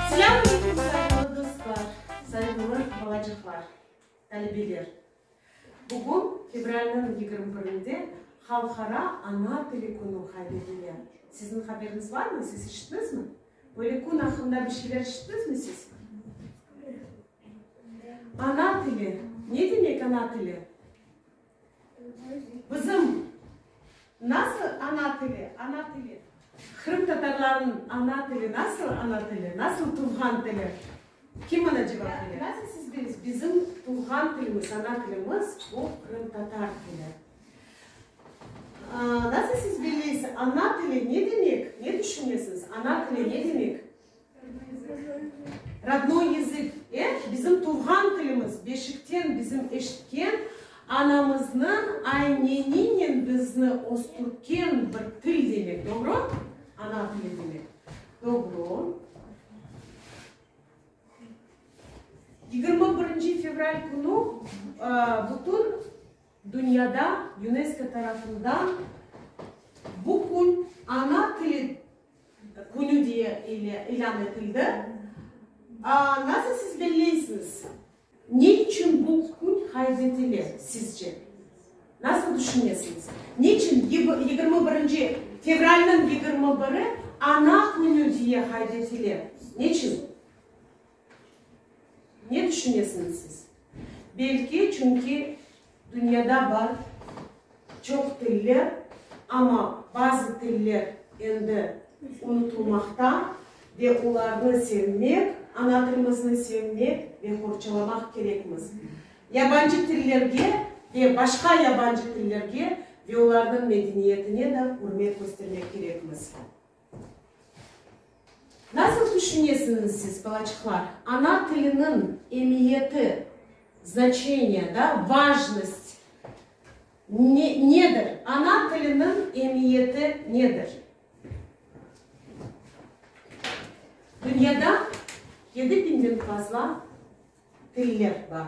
Selam aleyküm saygılı dostlar, saygılı balacıqlar, talebeler! Bugün fevralniñ yigirmi birinde Halqara ana tili künü qaydedile. Siziñ haberiñiz barmı? Siz işittiñizmi? Böyle kün aqqında bir şeyler işittiñizmi siz? Ana tili, ne demek ana tili? Bizim nasıl ana tili, ana tili? Qırımtatarlarnıñ ana tili nasıl ana tili, nasıl tuvğan tili? Kim mına cevap bere? Nasıl siz bilesiz? Bizim tuvğan tilimiz, ana tilimiz, bu qırımtatar tili. Nasıl siz bilesiz, ana tili ne demek? Ne tüşünesiz, ana tili ne demek? Rodnoy yızık, e, bizim tuvğan tilimiz, beşikten bizim eşitken anamıznıñ ayneninen bizni östürken bir til demek, doğru? Ana tili demek. Doğru. Yigirmi birinci fevral künü bütün dünyada UNESCO tarafından bu kün ana tili Künü diye ile ilân etildi. Nasıl siz belleysiñiz? Ne içün bu kün qayd etile sizce? Nasıl tüşünesiñiz? Ne içün yigirmi birinci fevralniñ yigirmi biri Ana künü diye qayd etile? Ne içün? Ne tüşünesiñiz siz? Belki, çünki dünyada bar çoq tiller, amma bazı tiller endi unutulmaqta, ve olarnı sevmek, ana tilimizni sevmek ve qorçalamaq kerekmiz. Yabancı tillerge ve başqa yabancı tillerge ve olarnıñ medeniyetine de ürmet köstermek kerekmiz. Nasıl tüşünesiñiz siz, balaçıqlar, ana tiliniñ emiyeti, znaçeniye, da, vajnost, ne, nedir? Ana tiliniñ emiyeti nedir? Dünyada yedi biñden fazla tiller bar.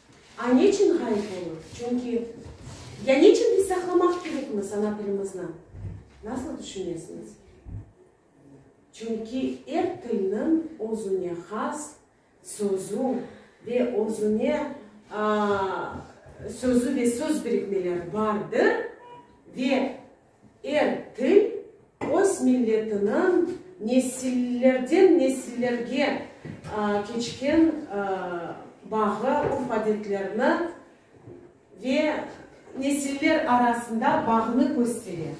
A Neçün ğayıp olur? Çünki Ya neçün biz saqlamaq kerekmiz ana tilimizni? Nasıl tüşünesiñiz? Çünki er tilniñ özüne has sözü ve özüne aa sözü ve söz birikmeleri bardır ve Er til öz milletiniñ nesillerden nesillerge keçken bağı, urf-adetlerini ve nesiller arasında bağnı köstere.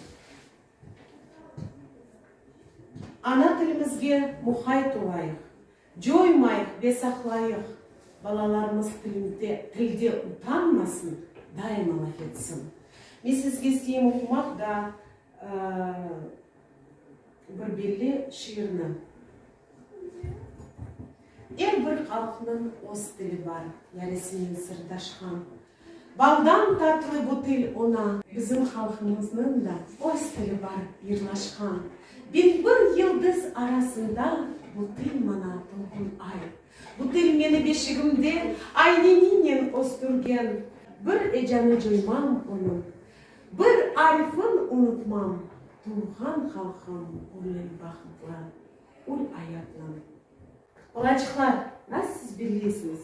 Ana tilimizge muhayt olayıq, Coymayıq ve saqlayıq, balalarımız tilimde, tilde utanmasın, daima laf etsin. Men sizge isteyim oqumaq da bir belli şiirni. Er bir halqnıñ oz tili bar, yaresimen sırdaşqan, Baldan tatlı bu til oña. Bizim halqımıznıñ da öz tili bar, yırlaşqan. Binbir yıldız arasında bu til maña tolqun ay. Bu til meni beşigimde ayneninen östürgen. Bir ecanı coymam onıñ, bir arifin unutmam. Tuvğan halqım ömrüñ bahıtlı, ül ayatnıñ. Balaçıqlar, nasıl siz bilesiñiz?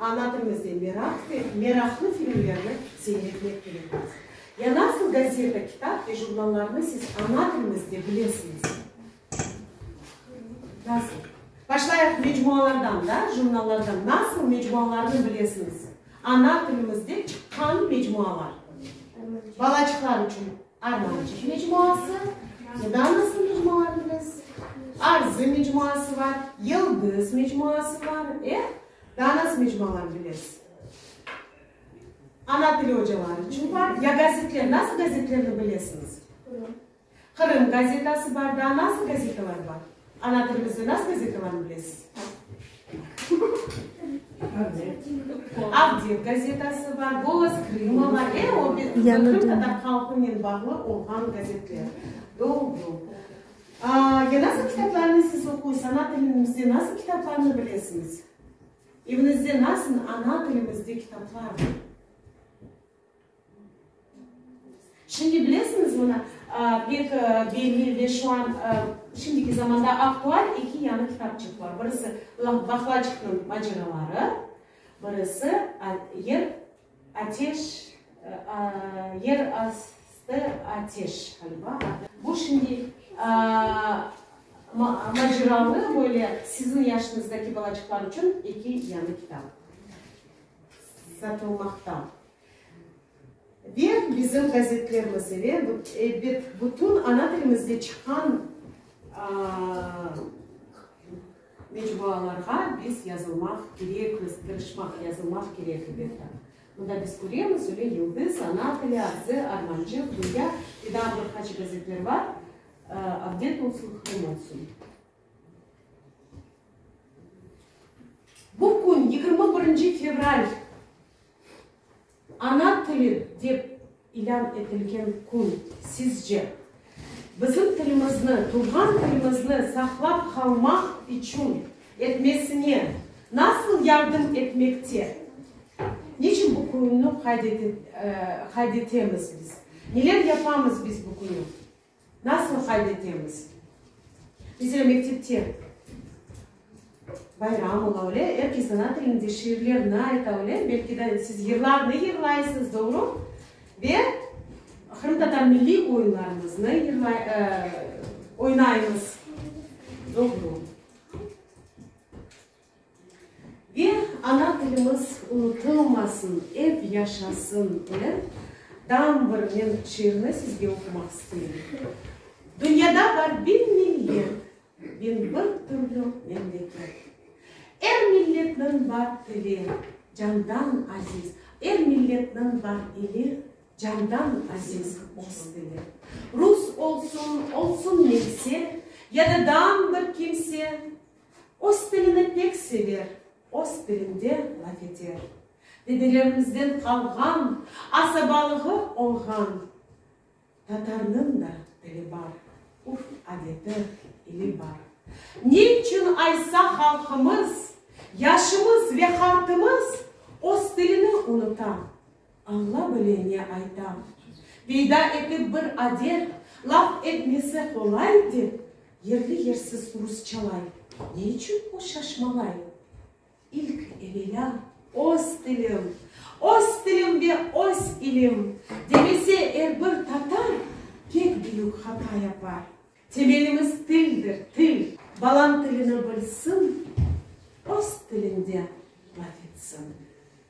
Ana tilimizde meraq ve meraqlı filmlerni seyretmek kerekmiz. Ya nasıl gazeta, kitap ve jurnallarnı siz ana tilimizde bilesiñiz? Nasıl? Başlayıq mecmualardan da, jurnallardan. Nasıl mecmualarnı bilesiñiz? Ana tilimizde çıqqan mecmualar. Balaçıqlar içün. Armançıq mecmuası, Danasın mecmualarını biz, Arzı mecmuası bar, Yıldız mecmuası bar, e, Danas mecmualarını bilesiz. Ana tili ocaları içün bar. Ya gazetler, nasıl gazetlerni bilesiñiz? Qırım gazetası bar, daa nasıl gazetalar bar? Ana tilimizni nasıl gazetalañ bilesiz? Avdet gazetası bar, Golos Krıma bar, e, o bir qırımtatar halqınen bağlı olğan gazetler. Doğru. Ya nasıl kitaplarnı siz oquysız, ana tilimizde nasıl kitaplarnı bilesiñiz? Eviñizde nasıl ana tilimizde kitaplar bar? Şimdi bilesiñizmi, na, pek belli ve şu an, şimdiki zamanda aktual eki yañı kitapçıq bar. Birisi, Vahlaçıqnıñ maceraları, birisi, Yer ateş, Yer astı ateş, ğaliba, adı. Bu şimdi maceralı, böyle, siziñ yaşıñızdaki balaçıqlar içün eki yañı kitap. satılmaqta. Ve bizim gazetlerimiz ile bütün ana tilimizde çıqqan mecmualarğa biz yazılmaq kerekmiz, tırışmaq, yazılmaq kerek elbette. Mında biz köremiz, Ülü Yıldız, Ana tili, Arzı, Armancıq, Dünya ve daa bir qaç gazetler bar, Avdet olsun, Qırım olsun. Bu kün, yigirmi birinci fevral, Ana tili dep ilân etilgen kün. Sizce, bizim tilimizni, tuvğan tilimizni saqlap qalmaq içün etmesine nasıl yardım etmekte? Niçün bu künni qayd etemiz biz? Neler yapamız biz bu künü? Nasıl qayd etemiz? Bize mektepte bayram ola, öyle, er kes ana tilinde şiirlerni ayta, öyle, belki de siz yırlarnı yırlaysız, doğru? Ve qırımtatar milliy oyunlarımıznı yırlay, ıı, oynaymız. Doğru. Ve ana tilimiz unutılmasın, ep yaşasın dep, dam bir men şiirni sizge oqumaq isteyim. Dünyada bar biñ millet, biñ bir türlü memleket. Er milletniñ bar tili, candan aziz, er milletniñ bar ili, candan aziz öz tili. Rus olsun, olsun neyse, ya da dam bir kimse, Öz tilini pek sever. Öz tilinde laf eter. Dedelerimizden qalğan. Asabalığı olğan. Tatarnıñ da tili bar. Urf-adeti, ili bar. Ne içün aysa halqımız, yaşımız ve hartımız öz tilini unuta? Alla bile ne aytam. Peyda etip bir adet, laf etmesi qolay dep, yerli-yersiz rusçalay. Ne içün o şaşmalay? İlk evelâ, öz tilim, öz tilim ve öz ilim, demese er bir tatar, pek büyük hata yapar. Temelimiz tildir, til. Balam tilini bilsin, öz tilinde laf etsin.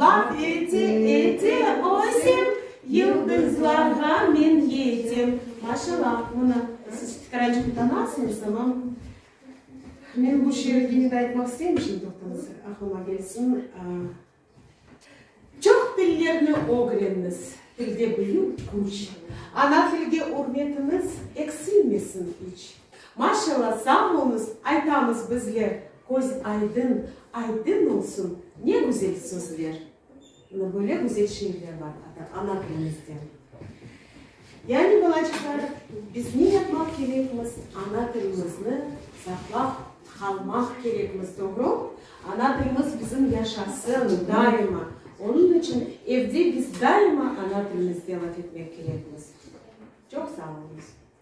Laf ete, ete, o sen, Yıldızlarğa men yetem. Maşalla, bunı siz Fikracını tanırsıñız, tamam. Men bu şiir yine de aytmaq isteyim, şimdi toqtañız, aqlıma kelsin. Çoq tillerni ögrenniz, tilde büyük küç. Ana tilge ürmetiñiz eksilmesin iç. Maşalla sağ olunız aytamız bizler. Köz aydın, aydın olsun, ne güzel sözler. Ana böyle güzel şiirler bar ana tilimizde. Yani balacıqlar, biz ne yapmaq kerekmiz, ana tilimizni saqlap qalmaq kerekmiz, doğru? Ana tilimiz bizim yaşasın daima. Onıñ içün evde biz daima ana tilimizde laf etmek kerekmiz. Çoq sağ olunız.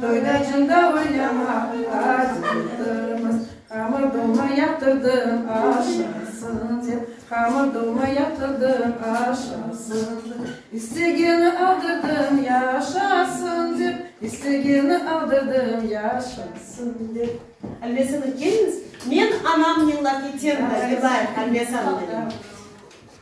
Toyda cında oynama, az oynatırmız, Hamır dolma yaptırdım, aşasın dep, Hamır dolma yaptırdım, aşasın dep, İstegeni aldırdım, yaşasın dep, İstegeni aldırdım, yaşasın dep. Albesanov, keliniz, men anamnıñla ketem de, yılayıq, Albesanov, dedim.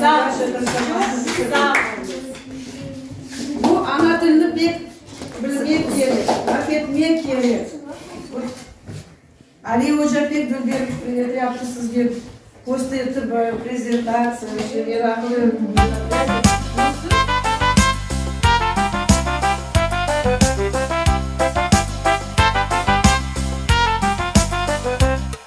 Sağ ol, çoq sağ ol. Bu ana tilini pek bilmek kerek, laf etmek kerek. Ali oca pek bilgen yaptı sizge kösterdi bu prezentatsiyani, şey, meraqlı.